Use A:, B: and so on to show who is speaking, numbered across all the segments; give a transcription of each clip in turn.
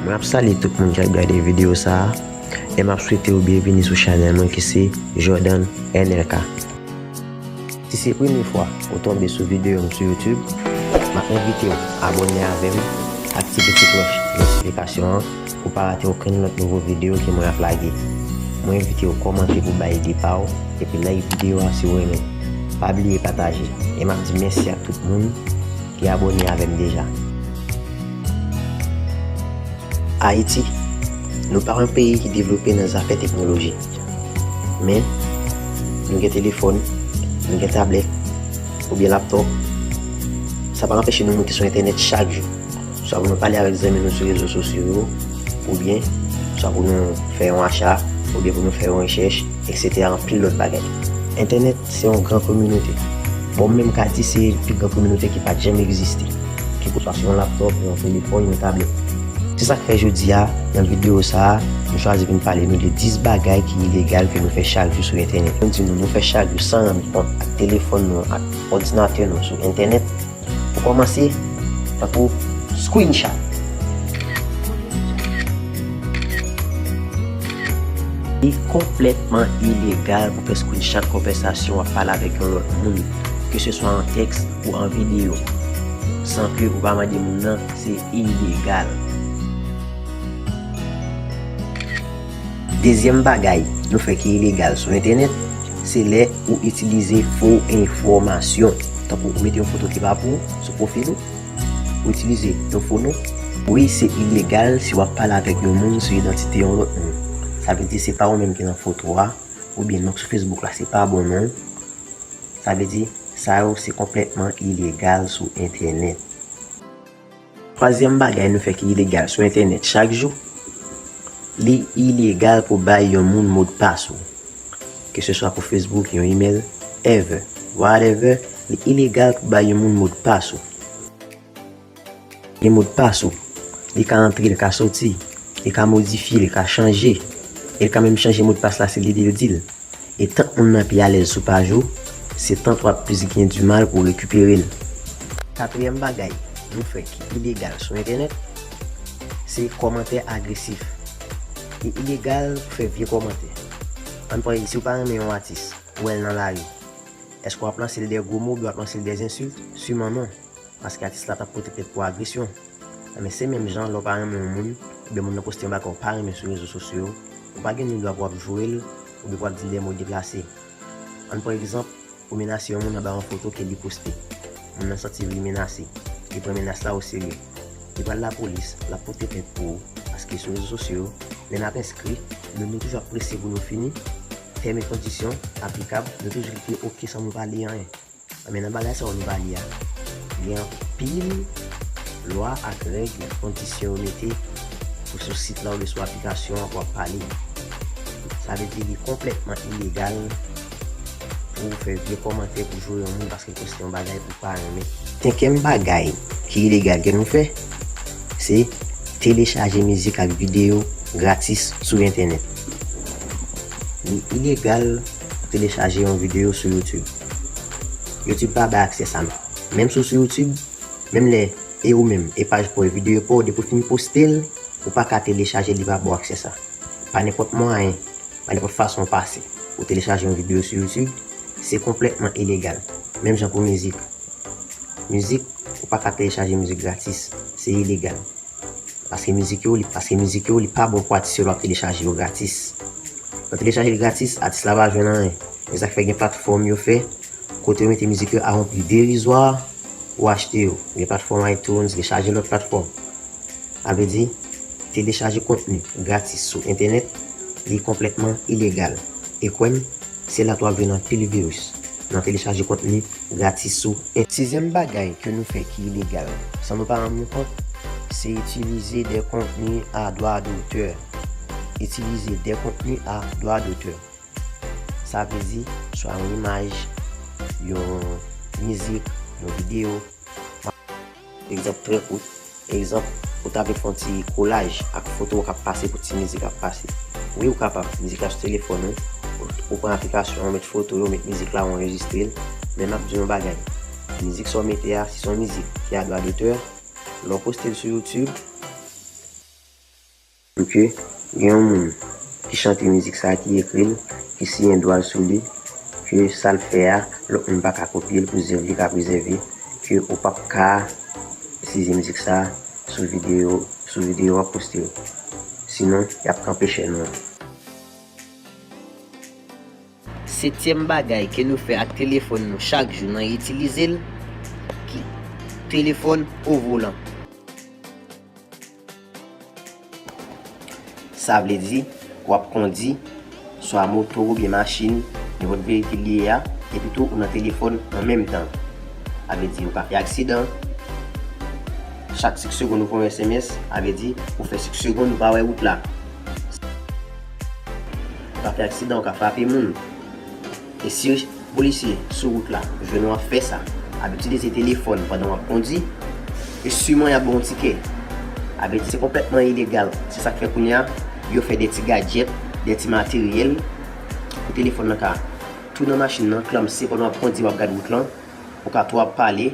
A: Mwen ap salye tout moun ki ap gade video sa a, e m ap swete yo byenvini sou chanèl mwen ki se Jordan NLK. Si se premye fwa ou tonbe sou video m sou YouTube, m ap envite w abòne avè m, aktive ti klòch notifikasyon an pou w pa rate okenn lòt nouvo video ke mwen ap lage. Mwen envite w kòmante pou w bay ide pa w, epi like video a si w renmen. Pa bliye pataje. E m ap di mèsi ak tout moun. ki abone avem deja. Ayiti, nou pa yon peyi ki devlope nan zafè teknoloji. Men, nou gen telefòn, nou gen tablèt, oubyen laptòp. Sa pa anpeche nou moute sou entènèt chak jou. Swa pou nou pale avèk zanmi nou sou rezo sosyo yo, oubyen, swa pou nou fè yon acha, oubyen pou nou fè yon rechèch, eksetera anpil lòt bagay. Entènèt Se yon gran kominote. Bon m menm ka di se pi gran kominote ki pat janm egziste. Kekeswa se yon laptop, yon telefòn, yon tablèt. Se sa k fè jodi a, nan videyo sa a, m chwazi pou m pale nou de 10 bagay ki ilegal ke nou fè chak jou sou entènèt. Mwen di nou, nou fè chak jou san rann kont ak telefòn nou an, ak òdinatè nou an sou entènèt. Pou kòmanse, tankou screenshot. Li konplètman ilegal pou fè screenshot konvèsasyon w ap pale avèk yon lòt moun, ke se swa an tèks ou an videyo, san ke ou pa mande moun nan, se ilegal. Dezyèm bagay nou fè ki ilegal sou entènèt, se lè ou itilize fo enfòmasyon. Tankou ou mete yon foto ki pa pou ou sou pwofil ou, ou itilize yon fo non. Wi, se ilegal si w ap pale avèk yon moun sou idantite yon lòt moun. Sa vle di se pa ou menm ki nan foto a, oubyen non k sou Facebook la se pa bon non. Sa vle di, sa yo se konplètman ilegal sou entènèt. Twazyèm bagay nou fè ki ilegal sou entènèt chak jou, li ilegal pou bay yon moun modpas ou, ke se swa pou Facebook, yon email, ever, whatever, li ilegal pou bay yon moun modpas ou. Gen modpas ou, li ka antre, li ka soti, li ka modifye, li ka chanje, e li ka menm chanje modpas la si li dil dil. E tant moun nan pi alèz sou paj ou, se tant wap plis gen di mal pou rekipere l. Katriyèm bagay nou fè ki ilegal sou entènèt, se kòmantè agresif. Li ilegal pou fè vye kòmantè. An n pran si w pa renmen yon atis, ou wè l nan lari, èske wap lanse l dè gwo mo oubyen wap lanse l dè zensilt? Siman non. Paske atis la pap pote plent pou agresyon. Enben se menm jan lè w pa renmen yon moun, oubyen moun nan poste yon bagay w pa renmen sou rezo sosyo yo, ou pa gen ni dwa pou w ap joure l, oubyen pou w ap di l dè mo deplase. Ann pran egzanp, ou menase yon moun anba yon foto ke li poste. Moun nan santi li menase. Li pran menas la oserye. Li pral lapolis, l ap pote plent pou ou. Paske sou rezo sosyo yo, lè n ap enskri, nou nou toujou ap prese pou nou fini, tèm e kondisyon, aplikab, nou toujou klike ok san moun pa li anyen. Anben nan bagay sa yo nou va li a, gen anpil lwa ak règ nan kondisyon yo mete pou sou sit la oubyen sou aplikasyon an pou ap pale. Sa vle di li konplètman ilegal pou w fè vye kòmantè pou joure yon moun paske l poste yon bagay ou pa renmen. Senkyèm bagay ki ilegal ke nou fè, se telechaje mizik ak videyo gratis sou entènèt. Li ilegal telechaje yon videyo sou youtube youtube pa bay aksè sa non menm si w sou youtube menm lè e ou menm e paj paw e videyo paw depi w fin postel ou paka telechajel li pa baw aksè sa pa nenpòt mwayen pa nenpòt fason w pase ou telechaje yon videyo sou youtube se konplètman ilegal menm jan pou mizik mizik ou paka telechaje mizik gratis se ilegal. Paske mizik yo li paske mizik yo li pa bon pou atis yo lè wap telechaje yo gratis lè w telechaje li gratis atis la pa jwenn anyen se sak fè gen platfòm yo fè kote yo mete mizik yo a yon pri derizwa pou achte yo gen platfòm itunes gen chaje lòt platfòm sa vle di telechaje kontni gratis sou entènèt li konplètman ilegal e kwè m se la tou wap jwenn anpil viris. Nan telechaje kontni gratis sou en. Sizyèm bagay ke nou fè ki ilegal, san nou pa rann nou kont, se itilize dè kontni a dwa dotè. Itilize dè kontni a dwa dotè. Sa vle di, swa yon imaj, yon mizik, yon videyo. Egzanp trè kout, egzanp, ou ta vle fè yon ti kolaj ak foto w k ap pase pou ti mizik ap pase. Wi ou kapab, mizik la sou telefòn ou, ou pran aplikasyon an ou met foto yo, ou met mizik la ou anrejistre l, men m ap di w yon bagay, mizik sa w mete a si se yon mizik ki a dwa dotè, lè w poste l sou youtube, Ok gen yon moun ki chante mizik sa ki ekril ki siyen dwal sou li ke sal fè a lòt moun paka kopyel pou zèv li ka prezève ke ou pap ka itiize mizik sa sou video sou video wap poste yo sinon yap kanpe chèn ou an. Setyèm bagay ke nou fè ak telefòn nou chak jou nan itilizel ki telefòn ovolan. Sa vle di, w ap kondi, swa moto oubyen machin, nenpòt veyikil li ye a, epi tou ou nan telefòn an menm tan. Sa vle di ou ka fè aksidan, chak sik segonn ou voye sms, sa vle di ou fè sik segonn ou pa wè wout la. Ou ka fè aksidan, ou ka frape moun. E si yon polisye sou wout la jwenn w ap fè sa, ap itilize telefòn pandan w ap kondi, e siman y ap ba w yon tikè. A vre di, se konplètman ilegal. Se sa k fè kounye a, yo fè de ti gadjèt, de ti materyèl pou telefòn nan ka tou nan machin nan, klamse pandan w ap kondi, w ap gad wout lan, ou ka tou ap pale,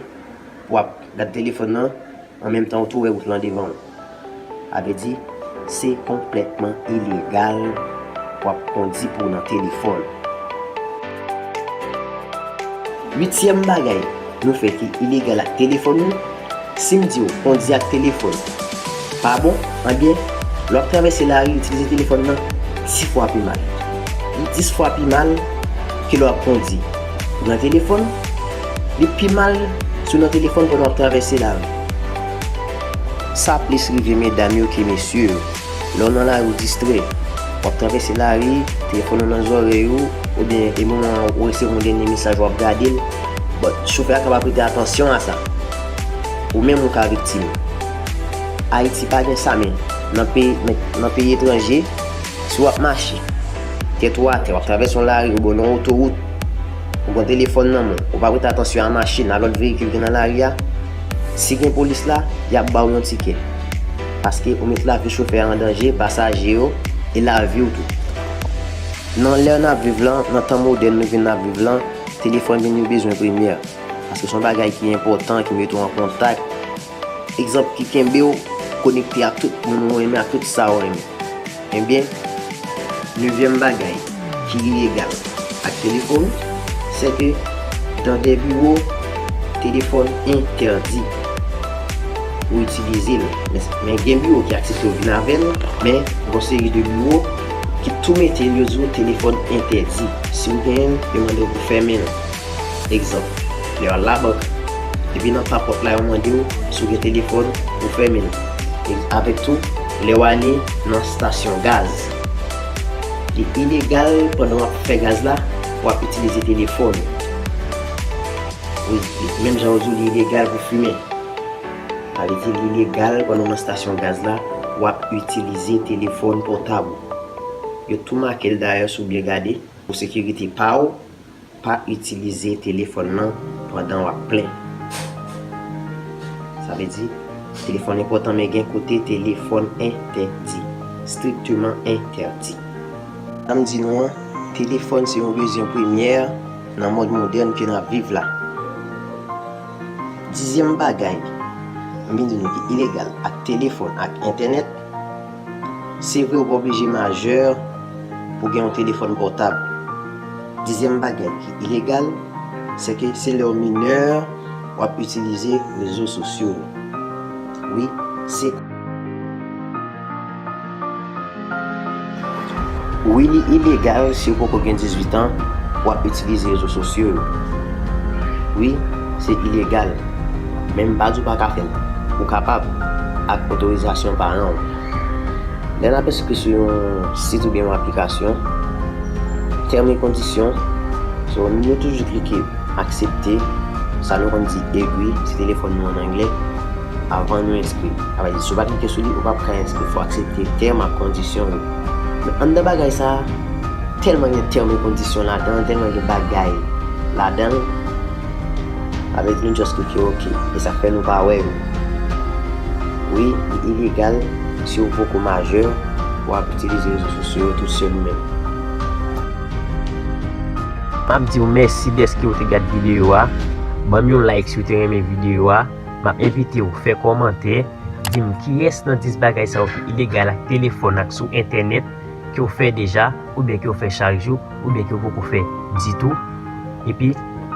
A: w ap gad telefòn nan. An menm tan ou tou wè wout lan devan w. A vle di, se konplètman ilegal w ap kondi pou w nan telefòn. Uityèm bagay nou fè ki ilegal ak telefòn nou, si m di w kondi ak telefòn pa bon, anben, lè w ap travèse lari itilize telefòn nan di fwa pi mal. Li dis fwa pi mal ke lè w ap kondi nan telefòn, Li pi mal si w nan telefòn pandan w ap travèse lari. Sa plis rive medam yo ke mesye yo. Lè w nan lari w distrè, w ap travèse lari, telefòn ou nan zòrèy ou, oubyen e moman an ou resevwa yon dènye mesaj w ap gade l, but chofè a ka pa prete atansyon a sa. Ou menm ou ka viktim. Ayiti pa gen sa men nan peyi etranje, si w ap mache, tèt ou atè, w ap travèse yon lari oubyen w nan otowout, Ou pran telefòn nan men w, ou pa prete atansyon a machin, a lòt veyikil ki nan lari a, si gen polis la, y ap ba w yon tikè. Paske ou met lavi chofè a an danje, pasaje yo, e lavi w tou. Nan lè n ap viv lan, nan tan modèn nou vin ap viv lan, telefòn vin yon bezwen premyè. Paske se yon bagay ki enpòtan, ki mete w an kontak. Egzanp ki kenbe w konekte ak tout moun ou renmen ak tout sa ou renmen. Ebyen, nevyèm bagay ki ilegal ak telefon, se ke dan de biwo, telefon entèdi pou itilize l. Men gen biwo ki aksepte w vin avè l, men gon seri de biwo ki tou mete l yo di w telefon entèdi. Si w genyen l, yo mande w pou fèmen l. Egzanp, lè w al labank, epi nan papòt la yo mande w si w gen telefòn, ou fèmen l. Avèk tou, lè w ale nan stasyon gaz, li ilegal pandan w ap fè gaz la pou w ap itilize telefòn ou. Wi, menm jan yo di w li ilegal pou fimen, sa vle di li ilegal pandan w nan stasyon gaz la pou w ap itilize telefòn pòtab ou. Yo tou make l dayè si w byen gade, pou sekirite pa w. Pa itilize telefòn lan pandan w ap plen. Sa vle di, telefòn enpòtan men gen kote telefòn entèdi, strictement interdit. Sa m di nou an, telefòn se yon bezwen premyè nan mond modèn ke n ap viv la. Dizyèm bagay m vin di nou ki ilegal ak telefòn ak entènèt. Se vre ou pa oblije majè pou gen yon telefòn pòtab. Dezyèm bagay ki ilegal, sèke se lè ou minè w ap itilize rezo sosyo yo. Wi, se. Wi li ilegal si ou poko gen 18 an pou ap itilize rezo sosyo yo. Wi se ilegal men m pa di w pa ka fè l. Ou kapab ak otorizasyon paran w. Lè n ap enskri sou yon sit oubyen yon aplikasyon, tèm e kondisyon, so nou toujou klike aksepte, sa nou konn di egri si telefòn nou an anglè. avan nou enskri. Sa vle di si w pa klike sou li, ou pap ka enskri. Fò w aksepte tèm ak kondisyon yo. Men anndan bagay sa a, tèlman gen tèm e kondisyon ladan, tèlman gen bagay ladan l, sa vle di nou just klike ok. E sa k fè nou pa wè yo. Wi, li ilegal si w poko majè pou w ap itilize rezo sosyo yo tout sèl ou menm. M ap di w mèsi dèske w te gad videyo a. Ban m yon like si w te renmen videyo a. Map envite w fè kòmantè, di m kiyès nan 10 bagay sa yo ki ilegal ak telefòn ak sou entènèt ke w fè deja oubyen ke w fè chak jou oubyen ke w poko fè ditou. Epi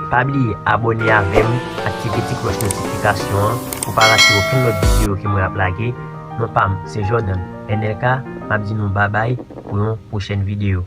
A: pa bliye abòne avè m, aktive ti klòch notifikasyon an pou w pa rate okenn lòt videyo ke mwen ap lage. Non pa m se Jordan NLK, map di nou babay pou yon pwochèn videyo.